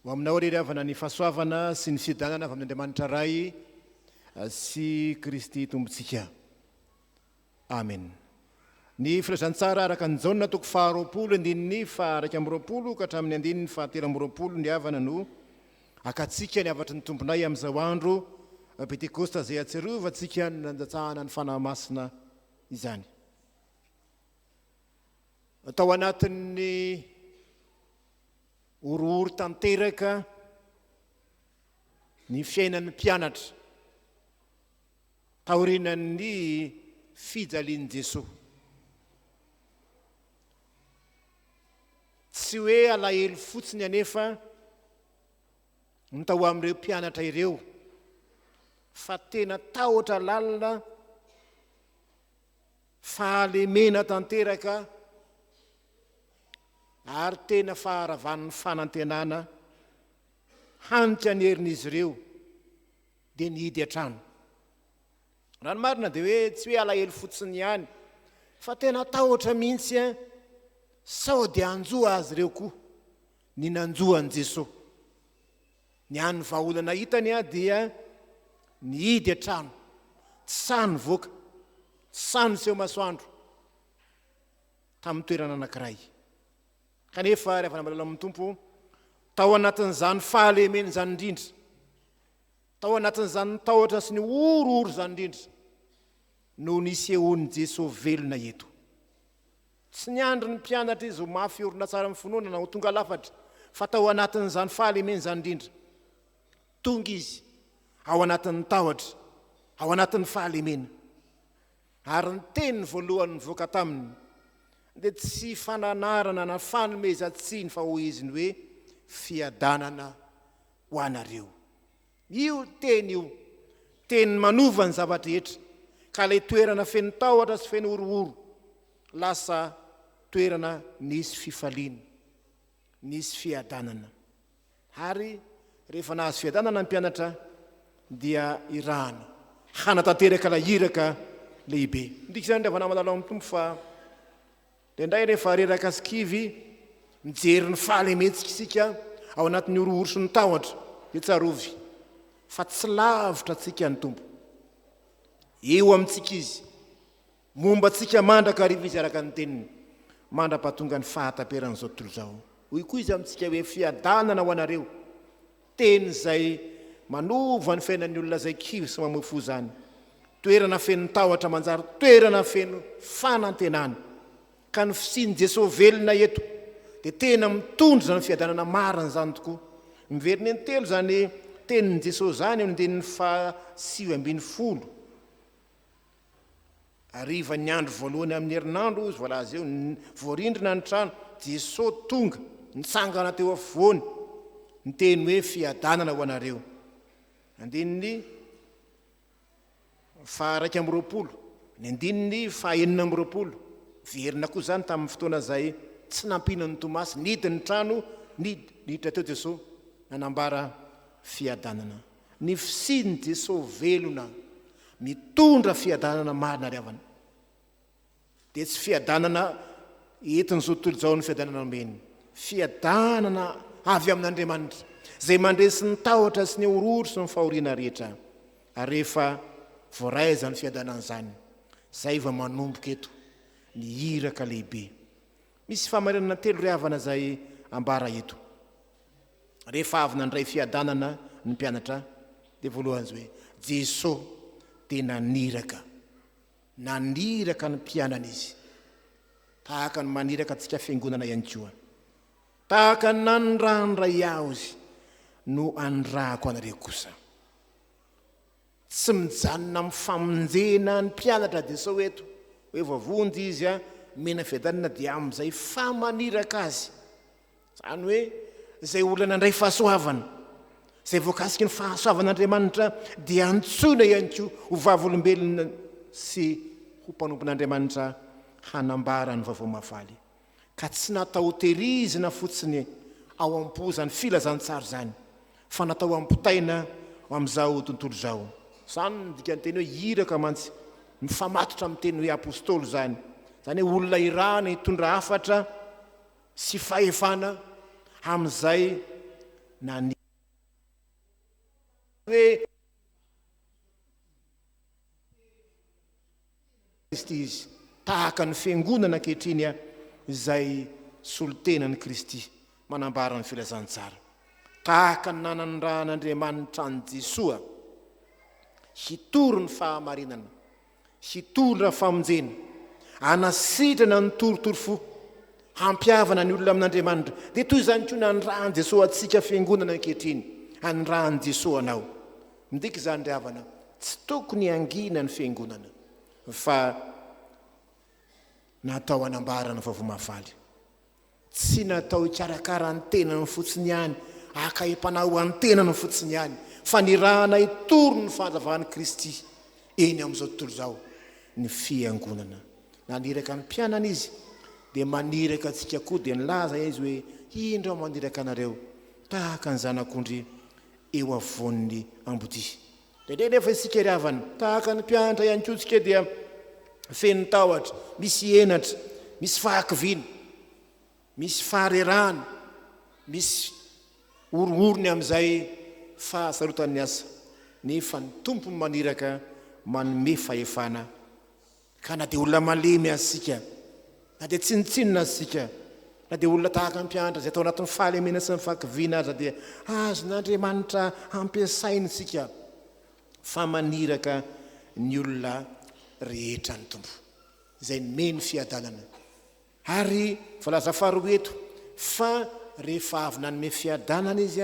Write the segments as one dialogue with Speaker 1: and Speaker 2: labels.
Speaker 1: Ho aminao irery havana ny fahasoavana sy ny fiadanana avy amin'Andriamanitra Ray sy Kristy Tompontsika. Amen. Ny Filazantsara araka an'i Jaona toko faharoapolo andininy faha-iraika amby roapolo ka hatramin'ny andininy fahatelo amby roapolo ny havana no hakatsika ny hafatry ny Tomponay amin'izao andro Pentekosta izay hahatsiarovantsika ny nandatsahana ny Fanahy Masina izany. Tao anatin'ny horohoro tanteraka ny fiainan'ny mpianatra Taorian'ny fijalian'i Jesoa, tsy hoe alahelo fotsiny anefa ny tao amin'ireo mpianatra ireo fa tena tahotra lalina, fahalemena tanteraka ary tena faharavan'ny fanantenana hanitra ny herin'izy ireo. dia nihidy hatrany. Raha ny marina dia hoe tsy hoe alahelo fotsiny ihany fa tena tahotra mihitsy an! Sao dia hanjo azy ireo koa ny nanjo an'i Jesoa. Ny an'ny vahaolana hitany an dia nihidy hatrany, tsy sahy nivoaka, tsy sahy niseho masoandro tamin'ny toerana anankiray. Kanefa ry havana malala amin'ny Tompo, tao anatin'izany fahalemen'izany indrindra Tao anatin'izany tahotra sy ny horohoro izany indrindra no nisehoan'i Jesoa velona eto. Tsy niandry ny mpianatra Izy ho mafy orina tsara amin'ny finoana na ho tonga lafatra, fa tao anatin'izany fahalemeny izany indrindra. Tonga Izy ao anatin'ny tahotra, ao anatin'ny fahalemena. Ary ny teny voalohany nivoaka taminy dia tsy fananarana na fanomezan-tsiny fa hoy Izy ny hoe, Fiadanana ho anareo. Io teny io, teny manova ny zava-drehetra, ka ilay toerana feno tahotra sy feno horohoro, lasa toerana nisy fifaliana, nisy fiadanana. Ary rehefa nahazo fiadanana ny mpianatra, dia irahany hanatanteraka ilay iraka lehibe. Midika izany, ry havana malala ao amin'ny Tompo, fa Indraindray rehefa reraka sy kivy mijery ny fahalementsika isika ao anatin'ny horohoroson'ny tahotra dia tsarovy fa tsy lavitra antsika ny Tompo. Eo amintsika Izy, momba antsika mandrakariva Izy araka ny Teniny, mandra-pahatongan'ny fahataperan'izao tontolo izao. Hoy koa Izy amintsika hoe, Fiadanana ho anareo, Teny izay manova ny fiainan'ny olona izay kivy sy mamoy fo izany. Toerana feno tahotra manjary toerana feno fanantenana. Ka ny fisian'i Jesoa velona eto dia tena mitondra izany fiadanana marina izany tokoa. Miverina intelo izany tenin'i Jesoa izany eo andininy faha sivy ambin'ny folo. Hariva ny andro voalohany amin'ny herinandro, hoy izy, voalaza eo, voarindrina ny trano, Jesoa tonga, nitsangana teo afovoany, niteny hoe, Fiadanana ho anareo. Andininy faha iraika amby roapolo, ny andininy faha enina amby roapolo, Miverina koa izany tamin'ny fotoana izay tsy nampiana an'i Tomasy, nidy ny trano, niditra teo Jesoa, nanambara fiadanana. Ny fisian'i Jesosy velona mitondra fiadanana marina ary havana, dia tsy fiadanana entin'izao tontolo izao ny fiadanana omeny. Fiadanana avy amin'Andriamanitra, izay mandresy ny tahotra sy ny horohoro sy ny fahoriana rehetra. Ary rehefa voaray izany fiadanana izany, izay vao manomboka eto ny iraka lehibe. Misy fahamarinana telo ry havana izay ambara eto. Rehefa avy nandray fiadanana ny mpianatra dia voalohany hoe Jesosy dia naniraka. Naniraka ny mpianany izy. Tahaka ny maniraka antsika fiangonana ihany koa. Tahaka ny nanirandray aho izy no anirahako anareo kosa. Tsy mijanona amin'ny famonjena ny mpianatra dia sao eto hoe voavonjy izy a, omena fiadanana dia amin'izay fa maniraka azy. Izany hoe izay olona nandray fahasoavana, izay voakasiky ny fahasoavan'Andriamanitra dia antsoina ihany koa ho vavolombelona sy ho mpanompon'Andriamanitra hanambara ny vaovao mahafaly. ka tsy natao ho tehirizina fotsiny ao am-po izany filazantsara izany fa natao hampitaina ho amin'izao tontolo izao. Izany no dikanteny hoe iraka mantsy, mifamatotra amin'ny teny hoe apostoly izany, izany hoe olona irahana hitondra hafatra sy fahefana amin'izay naniry. Kristy izy, tahaka ny Fiangonana ankehitriny izay solontenan'i Kristy, manambara ny Filazantsara. Tahaka ny nanandrahan'Andriamanitra an'i Jesoa hitory ny fahamarinana, hitondra famonjena, hanasitrana ny torotoro fo, hampihavana ny olona amin'Andriamanitra, dia toy izany koa nanandrahan'i Jesoa antsika Fiangonana ankehitriny, hanandrahan'i Jesoa anao, Midika izany ry havana, tsy tokony hangina ny fiangonana fa natao hanambara ny vaovao mahafaly. Tsy natao hikarakara ny tenany fotsiny ihany, haka em-panahy ho an'ny tenany fotsiny ihany, fa nirahana hitory ny fahazavan'i Kristy eny amin'izao tontolo izao ny fiangonana. Naniraka ny mpianany izy, dia maniraka antsika koa, dia nilaza izy hoe, Indro aho maniraka anareo tahaka ny zanak'ondry eo afovoan'ny ambodia. Indraindray anefa isika ry havana, tahaka ny mpianatra ihany koa isika dia feno tahotra, misy henatra, misy fahakiviana, misy faharerahana, misy horohorony amin'izay fahasarotan'ny asa, nefa ny Tompo no maniraka manome fahefana. Ka na dia olona malemy aza isika, na dia tsinontsinona aza isika, na dia olona tahaka mpianatra izay tao anatin'ny fahalemena sy ny fahakiviana aza dia azon'Andriamanitra ampiasainy isika fa maniraka ny olona rehetra ny Tompo izay nomeny fiadanana. Ary voalaza faharoa eto fa rehefa avy nanome fiadanana izy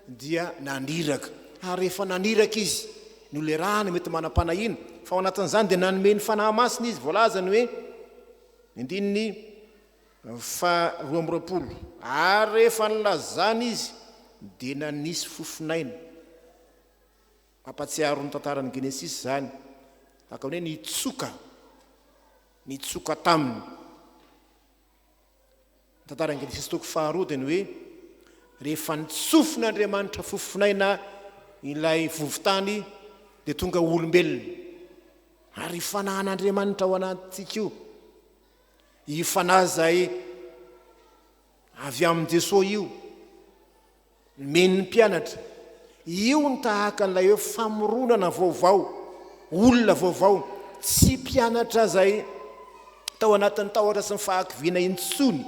Speaker 1: dia naniraka. Ary rehefa naniraka izy, nolerahana mety manam-panahiana, fa ao anatin'izany dia nanome ny Fanahy Masina izy, voalaza ny hoe, ny andininy faharoa amby roapolo, ary rehefa nilazana izy dia nanisy fofon'aina. Mampatsiaro ny tantaran'ny Genesisy izany, tahaka ny hoe nitsoka, nitsoka taminy. Ny tantaran'ny Genesisy toko faharoa dia ny hoe rehefa nitsofin'Andriamanitra fofonaina ilay vovontany dia tonga ho olombelona. Ary io fanahan'Andriamanitra ao anatintsika io, io fanahy izay avy amin'i Jesoa io, Nomeny ny mpianatra. Io no tahaka an'ilay hoe famoronana vaovao, olona vaovao, tsy mpianatra izay tao anatin'ny tahotra sy ny fahakiviana intsony,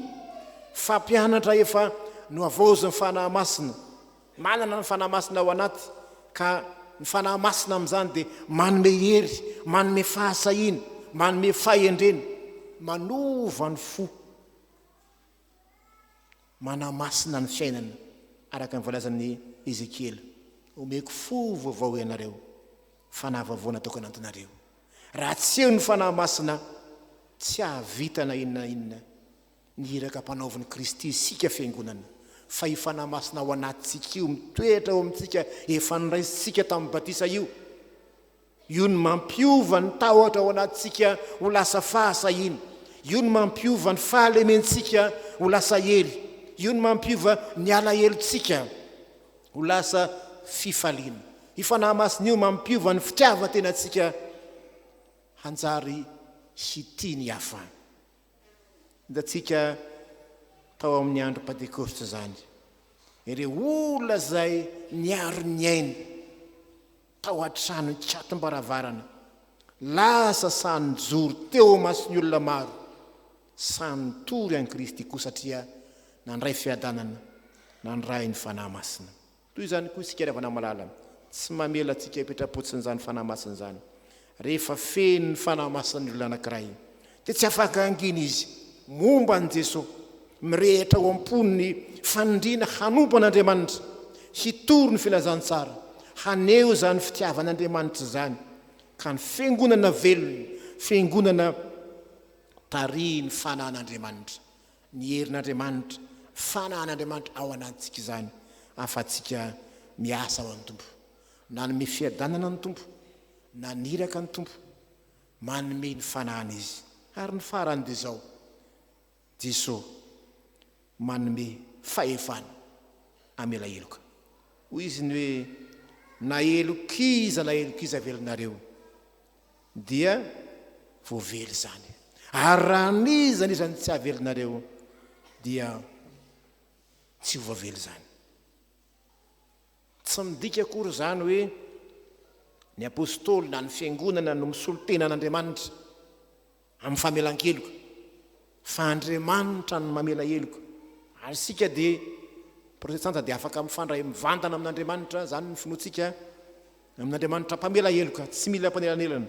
Speaker 1: fa mpianatra efa nohavaozin'ny Fanahy Masina, manana ny Fanahy Masina ao anaty, ka ny Fanahy Masina amin'izany dia manome hery, manome fahasahiana, manome fahendrena, manova ny fo. manamasina ny fiainana, araka ny voalazan'i Ezekiela, Omeko fo vaovao ianareo, fanahy vaovao natoko hanantonareo. Raha tsy eo ny fanahy masina, tsy hahavita na inona na inona ny iraka ampanaovin'i Kristy isika fiangonana, fa io fanahy masina ao anatintsika io, mitoetra ao amintsika, efa noraisintsika tamin'ny batisa io. Io no mampiova ny tahotra ao anatintsika ho lasa fahasahiana. Io no mampiova ny fahalementsika ho lasa hery. Io no mampiova ny alahelontsika ho lasa fifaliana. Io Fanahy Masina io mampiova ny fitiavan-tenantsika hanjary hitia ny hafa. Hitantsika tao amin'ny andro Pantekosta izany, ireo olona izay niaro ny ainy. tao an-trano an-kiatom-baravarana, lasa sahy nijoro teo imason'ny olona maro, sahy nitory an'i Kristy koa satria nandray fiadanana, nandray ny Fanahy Masina. Toy izany koa isika ry havana malala, tsy mamela antsika hipetra-potsiny izany Fanahy Masina izany. Rehefa feno ny Fanahy Masina ny olona anankiray, dia tsy afaka hangina izy momba an'i Jesoa. Mirehitra ao am-pony ny faniriana hanompo an'Andriamanitra, hitory ny Filazantsara, haneho izany fitiavan'Andriamanitra izany, ka ny Fiangonana velona, Fiangonana tarihin'ny Fanahin'Andriamanitra, ny herin'Andriamanitra, Fanahin'Andriamanitra ao anatintsika izany, ahafahantsika miasa ho an'ny Tompo. Nanome fiadanana ny Tompo, naniraka ny Tompo, manome ny fanahiny Izy. Ary ny farany dia izao, Jeso manome fahefana hamela heloka. Hoy Izy ny hoe, Na helokiza na helokiza velonareo, dia voavely izany. Ary raha n'iza n'iza no tsy havelonareo, dia tsy ho voavely izany. Tsy midika akory izany hoe ny apostoly na ny fiangonana no misolo tena an'Andriamanitra amin'ny famelan-keloka, fa Andriamanitra no mamela heloka. Ary isika dia protestanta dia afaka mifandray mivantana amin'Andriamanitra, izany ny finoantsika, Amin'Andriamanitra mpamela heloka, tsy mila mpanelanelana,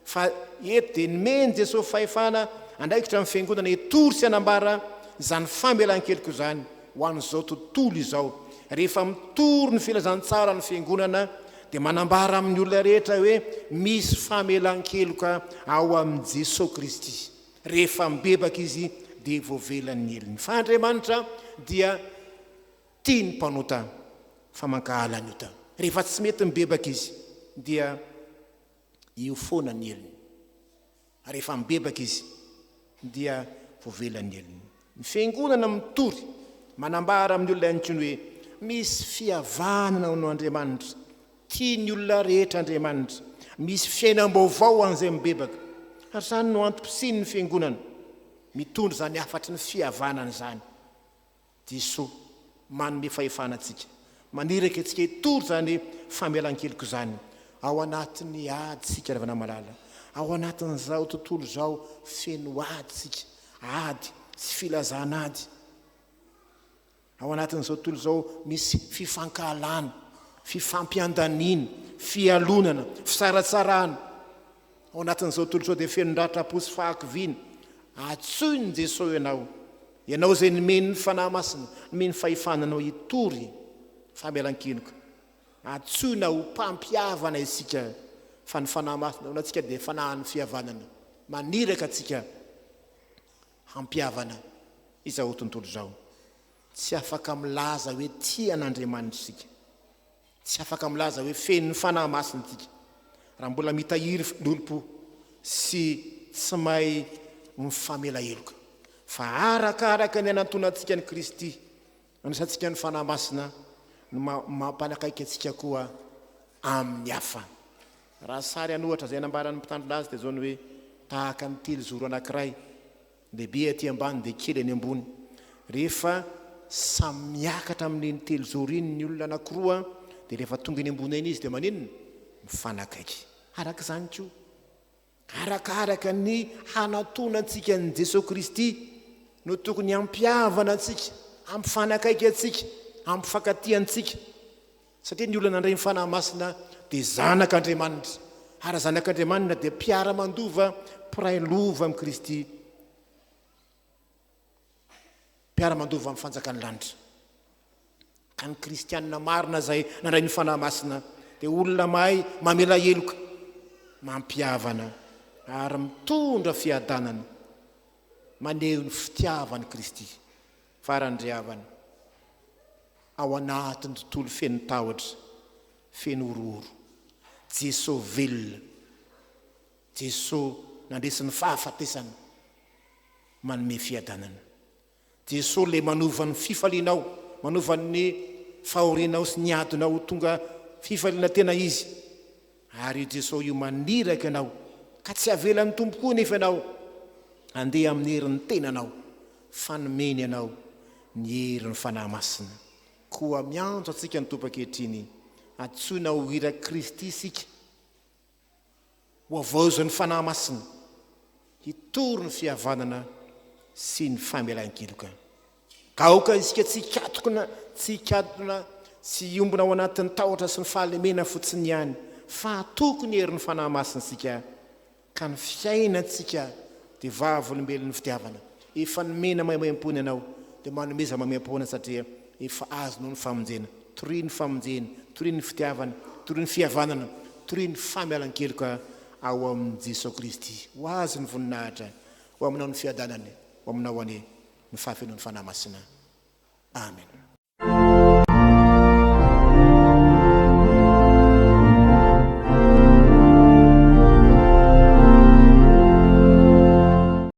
Speaker 1: fa eto dia nomen'i Jesosy fahefana handraikitra ny Fiangonana hitory sy hanambara izany famelan-keloka izany ho an'izao tontolo izao. Rehefa mitory ny filazantsara ny Fiangonana dia manambara amin'ny olona rehetra hoe misy famelan-keloka ao amin'i Jesosy Kristy. Rehefa mibebaka izy dia voavelan'ny helony. Fa Andriamanitra dia. Tia ny mpanota fa mankahala ny ota. Rehefa tsy mety mibebaka izy dia io foana ny helony. Rehefa mibebaka izy dia voavela ny helony. Ny fiangonana mitory manambara amin'ny olona intsony hoe misy fihavanana ho an'Andriamanitra. Tia ny olona rehetra Andriamanitra. Misy fiainam-baovao ho an'izay mibebaka. Ary izany no antom-pisian'ny fiangonana mitondra izany hafatry ny fihavanana izany. Jeso manome fahefana antsika. Maniraka antsika hitory izany famelan-keloka izany ao anatin'ny ady isika ry havana malala. Ao anatin'izao tontolo izao feno ady isika, ady sy filazan'ady. Ao anatin'izao tontolo izao misy fifankahalana, fifampiandaniana, fialonana, fisaratsarahana. Ao anatin'izao tontolo izao dia feno ratra-po sy fahakiviana. Antsoin'i Jesoa ianao, ianao izay nomeny ny Fanahy Masina, nomeny fahefana anao hitory famelan-keloka. Antsoina ho mpampihavana isika, fa ny Fanahy Masina ao anatintsika dia fanahin'ny fihavanana. Maniraka antsika hampihavana izao tontolo izao. Tsy afaka milaza hoe tia an'Andriamanitra isika, Tsy afaka milaza hoe feno Fanahy Masina isika raha mbola mitahiry fandronim-po sy tsy mahay mifamela heloka. Fa arakaraka ny hanantonantsika an'i Kristy, nandraisantsika ny Fanahy Masina no mampanakaiky antsika koa amin'ny hafa. Raha sary an'ohatra izay nambaran'ny mpitandro laza teto izao ny hoe tahaka ny telozoro anankiray Lehibe aty ambany dia kely any ambony. Rehefa samy miakatra amin'iny telozoro iny ny olona anankiroa dia rehefa tonga eny ambony eny izy dia maninona? Mifanakaiky. Araka izany koa, arakaraka ny hanatona antsika an'i Jesoa Kristy no tokony hampihavana antsika, hampifanakaiky antsika, hampifankatia antsika. Satria ny olona nandray ny Fanahy Masina dia zanak' Andriamanitra, ary zanak' Andriamanina dia mpiara-mandova, mpiray lova amin'i Kristy, mpiara-mandova amin'ny fanjakan'ny lanitra. Ka ny kristiana marina izay nandray ny Fanahy Masina dia olona mahay mamela heloka, mampihavana, ary mitondra fiadanana, maneho ny fitiavan'i Kristy Farany ry havana, ao anatin'ny tontolo feno tahotra, feno horohoro, Jeso velona, Jeso nandresy ny fahafatesana, manome fiadanana. Jeso ilay manova ny fifalianao, manova ny fahorianao sy ny adinao ho tonga fifaliana tena Izy. Ary i Jesoa io maniraka anao, ka tsy avelan'ny Tompo koa anefa ianao handeha amin'ny herin'ny tenanao, fa nomeny anao ny herin'ny Fanahy Masina. Koa miantso antsika ny Tompo ankehitriny, antsoina ho irak'i Kristy isika, ho havaozan'ny Fanahy Masina, hitory ny fihavanana sy ny famelan-keloka. Ka aoka isika tsy hikatokona, tsy hikatona, tsy hiombona ao anatin'ny tahotra sy ny fahalemena fotsiny ihany, fa hatoky ny herin'ny Fanahy Masintsika, ka ny fiainantsika dia vavolombelon'ny fitiavana. Efa nomena maimaimpoana ianao, dia manomeza maimaimpoana satria efa azonao ny famonjena. Toria ny famonjena, toria ny fitiavana, toria ny fihavanana, toria ny famialan-keloka ao amin'i Jesoa Kristy. Ho Azy ny voninahitra, ho Aminao ny fiadanana, ho Aminao anie. ny fahafenoan'ny Fanahy Masina. Amen.